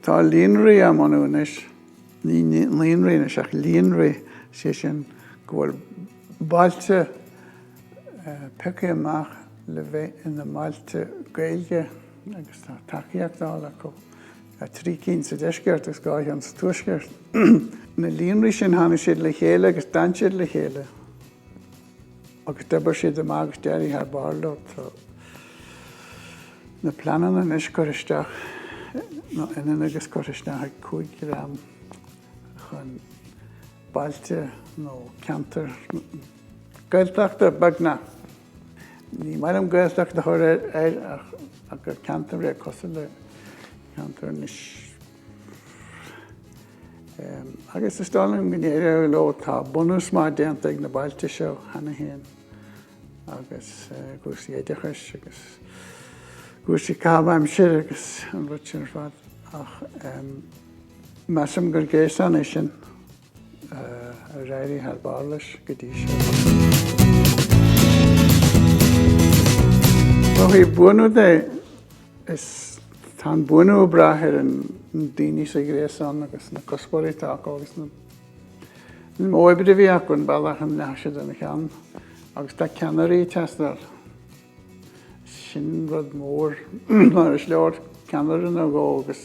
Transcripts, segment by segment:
Tá líonraí á mbunú anois, ní naíonraí anois ach líonraí, is é sin go bhfuil bailte pioctha amach le bheith ina mbailte Gaeilge agus tá tacaíocht á fháil acu. 3 cinn sa deisceart agus 2 cheann sa tuaisceart. Na líonraí sin tháinig siad le chéile agus d'fhan siad le chéile agus d'oibrigh siad amach agus d'éirigh thar barr leo. Tá na pleananna anois curtha isteach nó ionann agus curtha isteach ag 5 dream chun bailte nó ceantar Gaeltachta beagnach. Ní maith liom Gaeltacht a chur air ach gur ceantar é cosúil le ceantar anois. Agus is dóigh liom go n-éireoidh leo tá bunús maith déanta ag na bailte seo cheana féin agus cúrsaí oideachais agus cúrsaí caitheamh aimsire agus an rud sin ar fad ach measaim gur gréasán é sin. ar éirigh thar barr leis go dtí seo. Ó thaobh buanú de, is tá an buanú ag brath ar na daoine sa ghréasán agus na cuspóirí atá acu agus an modh oibre a bhí acu an bealach a ndeachaigh siad ina cheann agus tá ceannairí ag teastáil. Sin rud mór mar is leor ceannaire nó dhó agus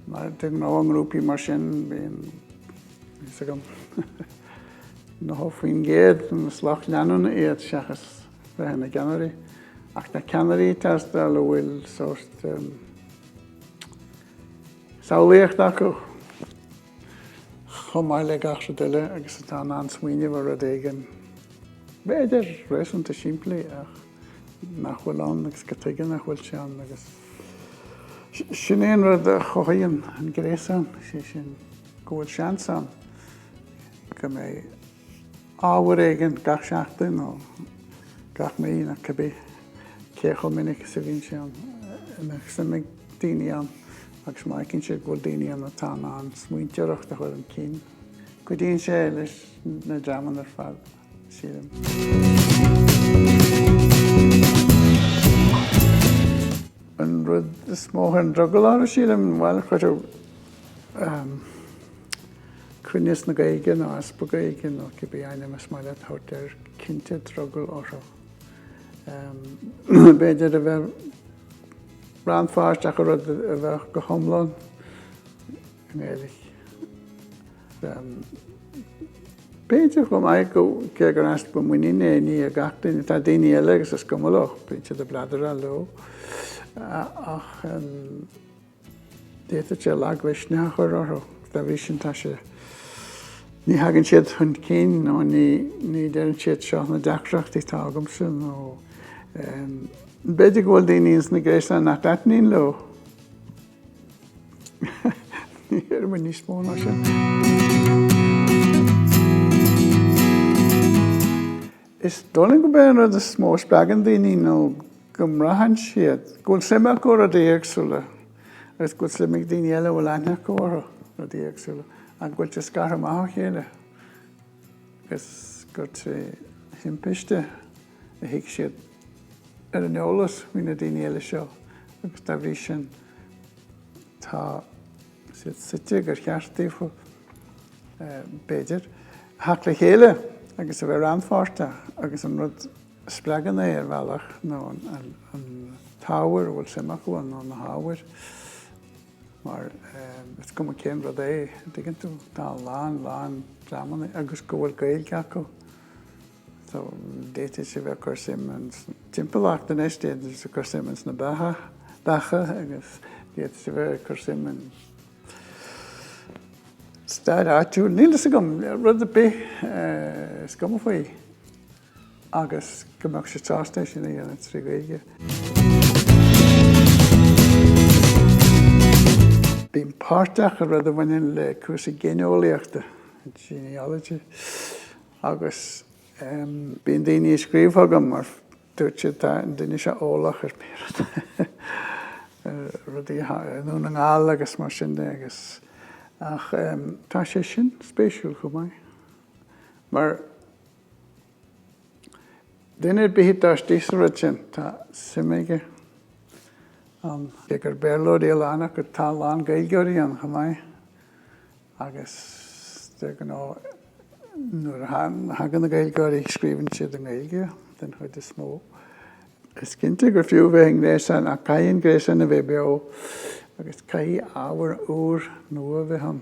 Mar de ghnáth i ngrúpaí mar sin bíonn, níl a fhios agam, 90% de na is lucht leanúna iad seachas bheith ina gceannairí. Ach tá ceannairí ag teastáil a bhfuil sórt samhlaíocht acu chomh maith le gach rud eile agus atá in ann smaoineamh ar rud éigin, b'fhéidir réasúnta simplí ach. nach bhfuil ann agus go dtuigeann nach bhfuil sé ann agus sin é an rud a chothaíonn an gréasán, sé sin go bhfuil seans ann go mbeidh ábhar éigin gach seachtain nó gach mí nó cibé cé chomh minic is a bhíonn sé ann a mbeadh suim ag daoine ann agus má fheiceann siad go bhfuil daoine ann atá in ann smaointeoireacht a chur chun cinn, cuidíonn sé leis na dreamanna ar fad. An rud is mó a chuireann drogall orthu, sílim, bhuel, cuireann cruinneas na Gaeilge nó easpa Gaeilge nó cibé ainm is maith leat a thabhairt air, cinnte drogall orthu. B'fhéidir a bheith rannpháirteach i rud a bheadh go hiomlán i nGaeilge. B'fhéidir chomh maith go gur easpa de mhuinín é i ngach duine, tá daoine eile agus is cuma leo bíonn siad ag bladaireacht leo ach d'fhéadfadh sé lagmhisneach a chur orthu. Dá bhrí sin tá sé, ní thagann siad chun cinn nó ní deireann siad seo na deacrachtaí atá agamsa nó b'fhéidir go bhfuil daoine ins na gréasáin nach dtaitníonn leo. Ní fheicim aon níos mó ná sin. Is dóigh liom gurb é an rud is mó a spreagann daoine nó go mbraitheann siad go bhfuil suim acu i rudaí éagsúla agus go bhfuil suim ag daoine eile a bhfuil aithne acu orthu, rudaí éagsúla, agus go bhfuil siad scartha amach ó chéile agus go bhfuil sé de thimpiste. a thiocfadh siad ar an eolas faoi na daoine eile seo agus dá bhrí sin tá siad suite gur cheart daofa, b'fhéidir, a theacht le chéile agus a bheith rannpháirteach agus an rud a spreagann é ar bhealach nó an t-ábhar a bhfuil suim acu ann nó na hábhair mar is cuma cén rud é, an dtuigeann tú? Tá a lán lán dreamanna agus go bhfuil Gaeilge acu. So, d'fhéadfadh sé bheith ag cur suim ins an timpeallacht anois, d'fhéadfadh sé bheith ag cur suim ins na beacha agus d'fhéadfadh sé bheith ag cur suim i stair áitiúil. Níl fhios agam, rud ar bith is cuma faoi agus go mbeadh siad sásta é sin a dhéanamh trí Ghaeilge. Bím páirteach i rud a bhaineann le cúrsaí géineolaíochta, genealogy. Agus bíonn daoine ag scríobh chugam mar dúirt siad tá an duine seo eolach ar b'fhéidir rudaí i nDún na nGall agus mar sin de agus ach tá sé sin spéisiúil chomh maith. Mar duine ar bith atá istigh sa rud sin tá suim aige ann. Cé gur Béarlóirí a lán acu tá a lán Gaeilgeoirí ann chomh maith. agus de ghnáth nuair a thagann na Gaeilgeoirí scríobhann siad i nGaeilge den chuid is mó. Is cinnte gur fiú bheith i ngréasán ach caithfidh an gréasán a bheith beo agus caithfidh ábhar úr, nua bheith ann.